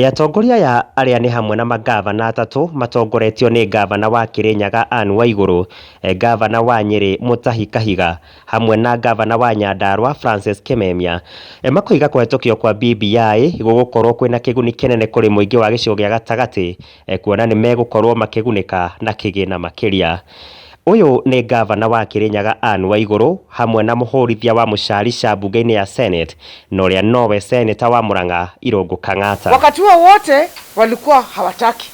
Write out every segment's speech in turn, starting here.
Ĩ atongoria aya arĩa nĩ hamwe na mangavana atatũ matongoretio nĩ ngavana wa Kĩrĩnyaga Ann Waigũrũ, ngavana wa Nyĩrĩ Mũtahi Kahiga hamwe na ngavana wa Nyandarũa Francis Kĩmemia. Makoiga kũhetũkio kwa BBI gũgũkorwo kwĩna kĩguni kĩnene kũrĩ mũingĩ wa gĩcigo gĩa gatagatĩ Kuona nĩ megũkorwo makĩgunĩka na kĩgĩna makĩria. Ũyũ nĩ ngavana wa Kĩrĩnyaga Ann Waigũrũ hamwe na mũhũrithia wa mũcarica mbunge-inĩ ya Senate na ũrĩa nowe Seneta wa Murang'a Irũngũ Kang'ata. Wakati huo wote walikuwa hawataki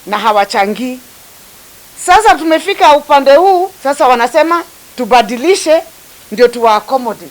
na hawachangii. Sasa tumefika upande huu sasa wanasema tubadilishe ndio tuwa accommodate.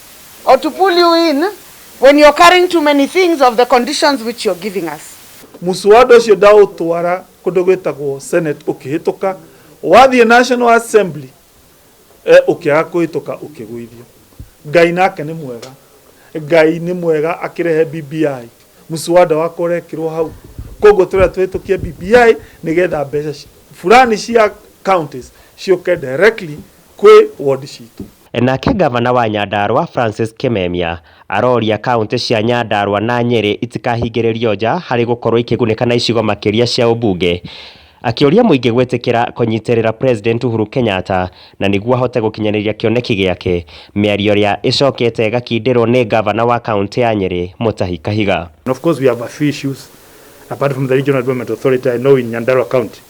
or to pull you in when you're carrying too many things of the conditions which you're giving us. Muswada ũcio ndaũtwara kũndũ gwĩtagwo Senate ũkĩhĩtũka, wathiĩ National Assembly eh, ũkĩaga kũhĩtũka ũkĩgũithio. Ngai nake nĩ mwega, Ngai nĩ mwega akĩrehe BBI, muswada wakwa ũrekĩrwo hau. Koguo tũrĩa tũhĩtũkie BBI nĩgetha mbeca ci- fulani cia counties ciũke directly kwĩ ward citũ. Nake ngavana wa Nyandarua Francis Kimemia aroria kauntĩ cia Nyandarua na Nyeri itikahingĩrĩrio nja harĩ gũkorwo ikĩgunĩka na icigo makĩria cia ũmbunge akĩũria mũingĩ gwĩtĩkĩra kũnyitĩrĩra President Uhuru Kenyatta na nĩguo ahote gũkinyanĩria kĩoneki gĩake, mĩario ĩrĩa ĩcokete ĩgakindĩrwo nĩ ngavana wa kauntĩ ya Nyeri Mutahi Kahiga. And of course we have a few issues apart from the regional development authority I know in Nyandarua county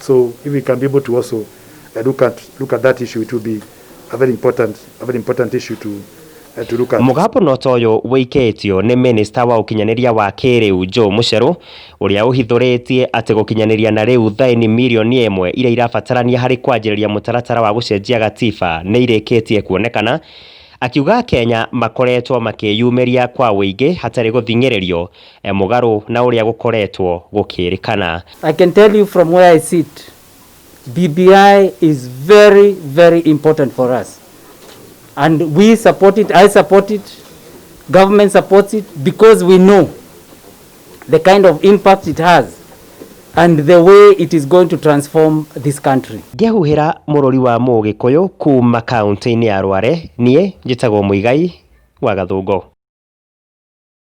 So if we can be able to also uh, look at look at that issue, it will be a very important a very important issue to uh, to look at. mũgambo no ta ũyũ wĩikĩtio nĩ mĩnĩsta wa ũkinyanĩria wa kĩrĩu Joe Mũcerũ ũrĩa ũhithũrĩtie atĩ gũkinyanĩria na rĩu thaĩni mirioni ĩmwe iria irabatarania harĩ kwanjĩrĩria mũtaratara wa gũcenjia gatiba nĩ irĩkĩtie kuonekana akiuga Kenya makoretwo makĩyumĩria kwa wĩingĩ hatarĩ gũthing'ĩrĩrio Mũgarũ na ũrĩa gũkoretwo gũkĩĩrĩkana. I can tell you from where I sit, BBI is very very important for us and we support it, I support it, government supports it because we know the kind of impact it has and the way it is going to transform this country. Ngĩhuhĩra mũrũri wa Mũgĩkũyũ kuuma kauntĩ-inĩ ya Rware, niĩ njĩtagwo Muigai wa Gathũngũ.